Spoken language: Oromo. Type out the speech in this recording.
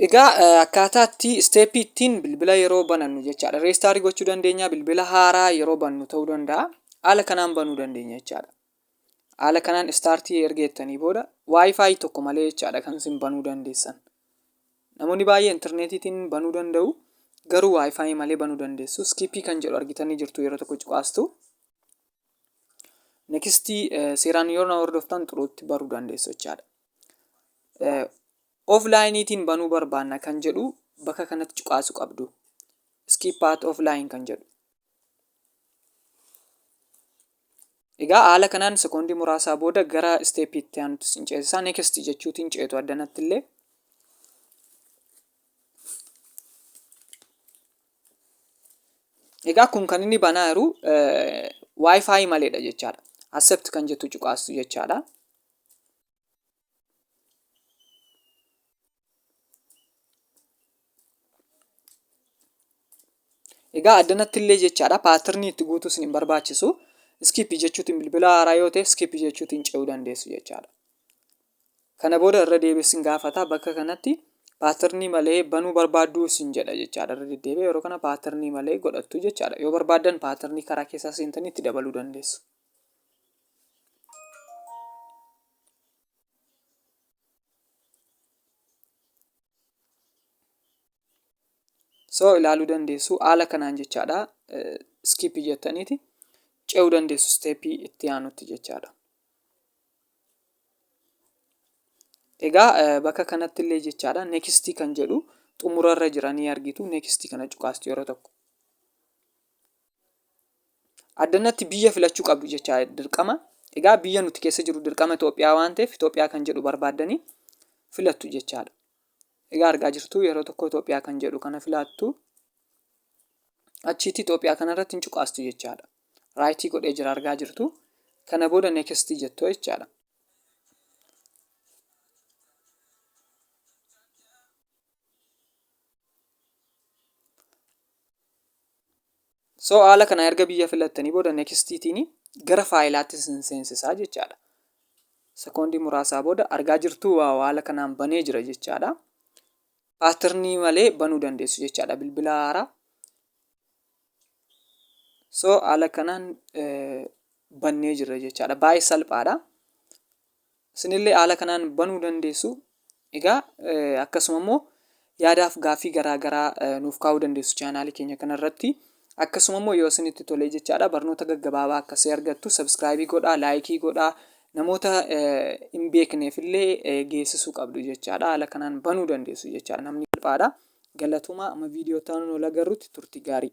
Egaa akkaataa itti isteeppii ittiin bilbila yeroo banannu jechaadha. Reestaarii gochuu dandeenya bilbila haaraa yeroo bannu ta'uu danda'a. Haala kanaan banuu dandeenya jechaadha. Haala kanaan istaartii erga jettanii booda waayifaayi tokko malee jechaadha kan isin banuu dandeessan. Namoonni baay'ee intarneetiitiin banuu danda'u garuu waayifaayi malee banuu dandeessu. Iskiippii kan jedhu argitanii jirtu yeroo tokko cuqaastu. Nekistii seeraan yoo na hordoftan xuruutti baruu dandeessu jechaadha. Offline'itiin banuu barbaanna kan jedhu bakka kanatti cuqaasu qabdu. Skip at offline kan jedhu. Egaa haala kanaan sekoondii muraasaa booda gara isteeppii itti aanutti sin ceesisaa next jechuutiin ceetu addanatti illee. Egaa kun kan inni banaa jiru wifi maleedha jechaadha. Accept kan jettu cuqaastu jechaadha. Egaa addanatti illee jechaadha paatirnii itti guutuu isin hin barbaachisu iskiipi jechuutiin bilbila haaraa yoo ta'e iskiipi jechuutiin ce'uu dandeessu jechaadha. Kana booda irra deebi'ee isin gaafata bakka kanatti paatirnii malee banuu barbaadduu isin jedha jechaadha irra deddeebi'ee yeroo kana paatirnii malee godhattu jechaadha yoo barbaaddan paatirnii karaa keessaa seentanii itti dabaluu dandeessu. so ilaaluu dandeessu haala kanaan jechaadha skip jettaniiti ce'uu dandeessu steepii itti aanutti jechaadha. Egaa eh, bakka kanatti illee jechaadha next kan jedhu xumurarra jira ni argitu next kana cuqaasti yeroo tokko. addannatti biyya filachuu qabdu jechaa dirqama egaa biyya nuti keessa jiru dirqama Itoophiyaa waan ta'eef Itoophiyaa kan jedhu barbaaddanii filattu jechaadha. Egaa argaa jirtu yeroo tokko Itoophiyaa kan jedhu kana filattu achiitti Itoophiyaa kanarratti hin cuqaastu jechaadha. Raayitii godhee jira argaa jirtu kana booda neekistii jettu jechaadha. so haala kana erga biyya filattanii booda nekistiitiin gara faayilaatti sin seensisaa jechaadha sekoondii muraasaa booda argaa jirtuu waa haala kanaan banee jira jechaadha paatirnii malee banuu dandeessu jechaadha bilbila haaraa so haala kanaan bannee jirra jechaadha baay'ee salphaadha Isinillee haala kanaan banuu dandeessu. Egaa akkasuma immoo yaadaaf gaaffii garaa garaa nuuf kaa'uu dandeessu chaanaalii keenya kanarratti. Akkasuma immoo yoo isinitti tolee jechaadha barnoota gaggabaabaa akkasii argattu sabiskiraayibii godhaa, laayikii godhaa, namoota hin beekneef illee geessisuu qabdu jechaadha. Haala kanaan banuu dandeessu jechaadha. Namni salphaadha. Galatomaa amma viidiyoo itti aanuun wal agarrutti turtii gaarii.